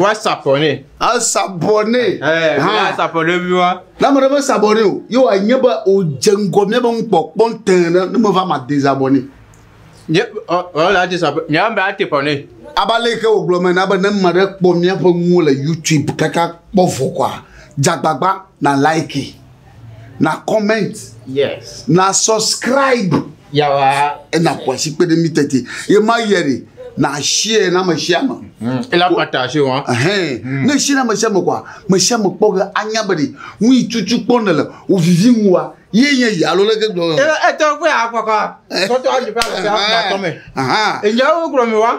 Woasabɔ nɛ. Asabɔ nɛ. Asabɔ nɛ mi wa. Na ame ɖe me sabɔ nɛ o. Ye wòanye be wòdze ŋgɔ mía be ŋkpɔkpɔ tẽ ɖe ne meva ma de zabɔ nɛ. Nye ɔla ati sabɔ. Nye ame ati bɔ nɛ. Aba le ke wògblɔ me na be ne ame ɖe kpɔ míaƒe nuwo le YouTube kaka kpɔ vɔ kɔa, dzagbagba na like. na comment yes na subscribe yawa ena kwasi kpe ɖe mi tete ye ma yɛ de na share na me share me mm. ela pata se wa hɛn mm. ne share na me share me kwa me share me kpɔ ge anya be de nu yi tutu kpɔ ne le o vivi ŋu wa ye nye yi alo leke gblɔ e e tɔ kpe akɔkɔ sɔtɔ ayi fa le se akpa tɔ me enyɛ wo gblɔ mi wa.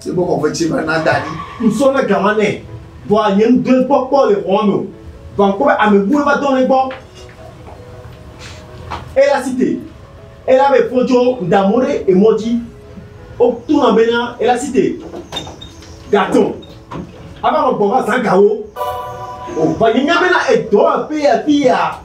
Ti bɔ kɔkɔe tse va na da ɖi. Ŋsɔ na gama nɛ. Vɔa nye ŋgble gbɔ kpɔ le xɔa me o. Vɔa ŋkpɔ be ame buwo va dɔ ɖe gbɔ. Ela site. Ela be fɔ dzɔ ŋda mɔ ɖe emɔ dzi. Wo to na bena ela site. Gatɔ. Ava nɔ gbɔ va zã gawo. O va nye nya bena edɔ aƒe afi ya.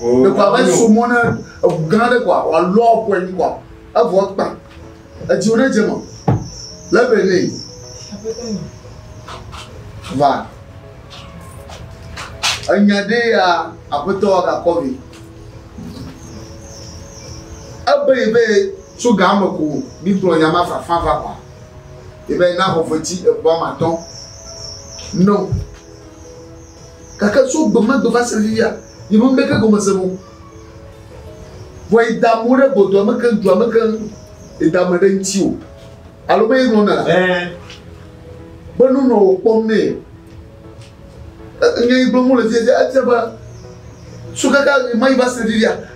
ɖeko abe so mɔ ne eŋu gã aɖe koa wòalɔ ƒu anyi koa evɔ kpa edziwo ne dze me le be ne va enya ɖe ya aƒetɔ gakɔ vi ebe yi be tso gã me ko mi kplɔ nya ma fafa va koa yi be na xɔ fetsi egbɔ amatɔ no. Gake tso gbe ma gbe va se ɖe fifia, nyemewɔ ŋɖeke gɔmese nu o. Vɔ yeda mo ɖe gbɔdɔa me keŋ, dua me keŋ, yeda me ɖe ŋuti o. Alo me yegblɔ na be nu nɔ wòkpɔm nɛ. Nya yi gblɔm wole fifia, etia be, tso kaka ɣemaɣi va se ɖe fifia,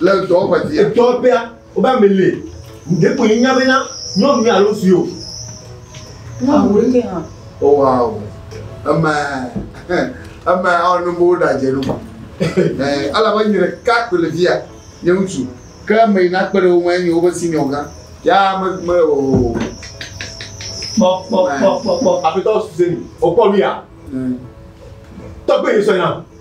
Le dɔ ƒe ti. Edɔ ƒea wobe ame le. Ɖe ko nya bena nyɔnu ya alo si o. Nyɔnu ɖe hã. O wa o. Eme eme ɔnu bo da dze nu. Eh ala ba nyere ka ko le via. Nye ŋutsu. Ke ame yi na kpe ɖe wo ŋu enye wobe senior gã. Ya me me o. Kpɔ kpɔ kpɔ kpɔ kpɔ. Apetɔ suse ni. O kpɔ nu ya. Tɔgbe yi sɔ na.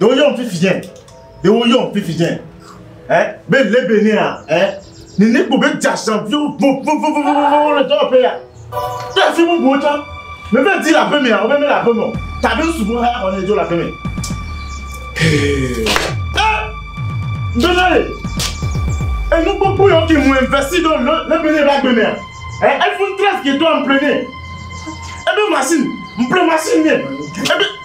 ɖe woyɔm fifi dze ɖe woyɔm fifi dze ɛ be lebe ne ya ɛ nene kpo be dzasa viwo vovovovovovo le dɔwɔƒe ya ɖe afi bubuwo tsã me bɛ di le aƒe mea wo bɛ mele aƒe me o tabe sugbɔ hã xɔ ne dzo le aƒe me. Donald enu gbogbo yɔ ke mu investi ɖo le le bene ɖe agbe mea ɛ iPhone 13 ke do ampere ne ebe machine mpere machine ne ebe.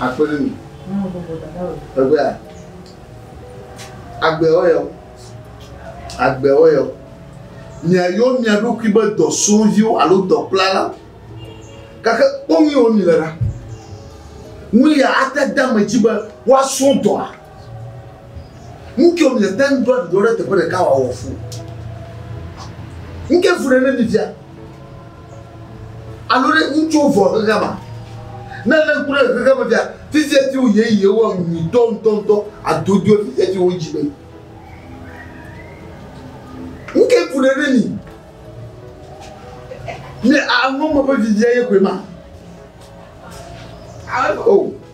Akpe ɖe mi. Egbea agbewo yɔ, agbewo yɔ. Miayɔ mia ɖokui be dɔsrɔ̃viwo alo dɔkplala, gake kpɔ nu yi wɔ mi le ɖa. Nu ya ate de ame dzi be woasrɔ̃ dɔa. Ŋkeo mi ete ŋu ɖoa ɖuɖɔ ɖe teƒe ɖeka wòawɔ fu. Ŋke fu ɖe ne mi fia. Alo ɖe ŋutsuwo vɔ xexea ma. Ne lé ŋku ɖe xexea me fia, fifia ti wò yeye wɔ nyuitɔ ŋutɔŋutɔ adodoe fifia ti wò dzi me. Ŋke fu ɖe ne mi. Mi aŋɔ me ƒe fifia ye koe ma. Oh.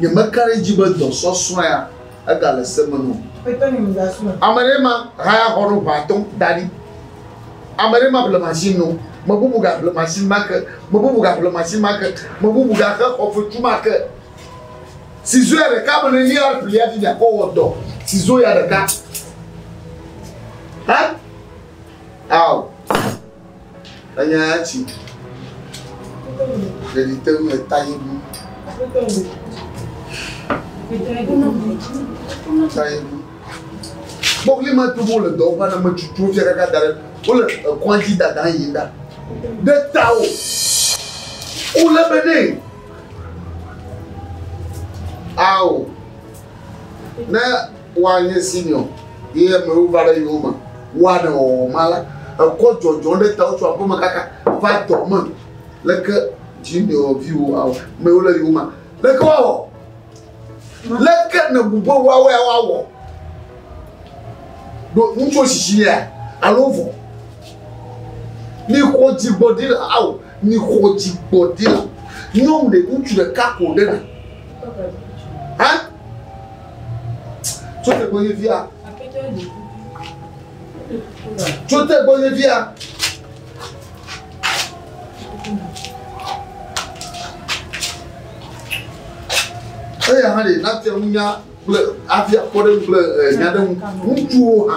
Nyemeka ɖe edzi be dɔ sɔsrɔ̃ea egale se me num. Ame ɖe ma haya xɔ ɖo ʋã atɔ̃ da ɖi. Ame ɖe ma ƒle machine no. Me bubu ga ƒle machine ma ke. Me bubu ga ƒle machine ma ke. Me bubu ga xe xɔ fetu ma ke. Sizo ya ɖeka me ne li ya ƒli ya fi ya kɔ wɔ dɔ. Sizo ya ɖeka. Hã? Ao. Enya ya tsi ɖeɖi te ŋu eta yi bu. Ta yi bu. Kpɔkli ma tu wole dɔ ƒe aname tutu fia kaka da ɖe wole ekɔa dzi dada yi da ɖe ta o. Wole be ne ao ne Woanye Simeon, ye amewo va ɖe yowòme, woa ɖe wɔwɔ ma la, ekɔ dzɔdzɔ ɖe tawò tso aƒeme kaka va dɔ me, leke dziŋɖeɔ viwò awɔ, mewo le yowòme, leke woawɔ? Leke nèbu be woawɔe woawɔ? Ɖo ŋutsuwo sisi yea, alo vɔ? Mixɔ dzigbɔɖi la awɔ, mixɔ dzigbɔɖi la, nyɔm ɖe ŋutsu ɖeka ko ɖe na. Hã? Tso te gbɔ nye via. Tso te gbɔ nye via. Eya hã ɖe nate ŋu nya kple afia kpɔ ɖe kple eh, nya ɖe ŋu ŋutsuwo hã.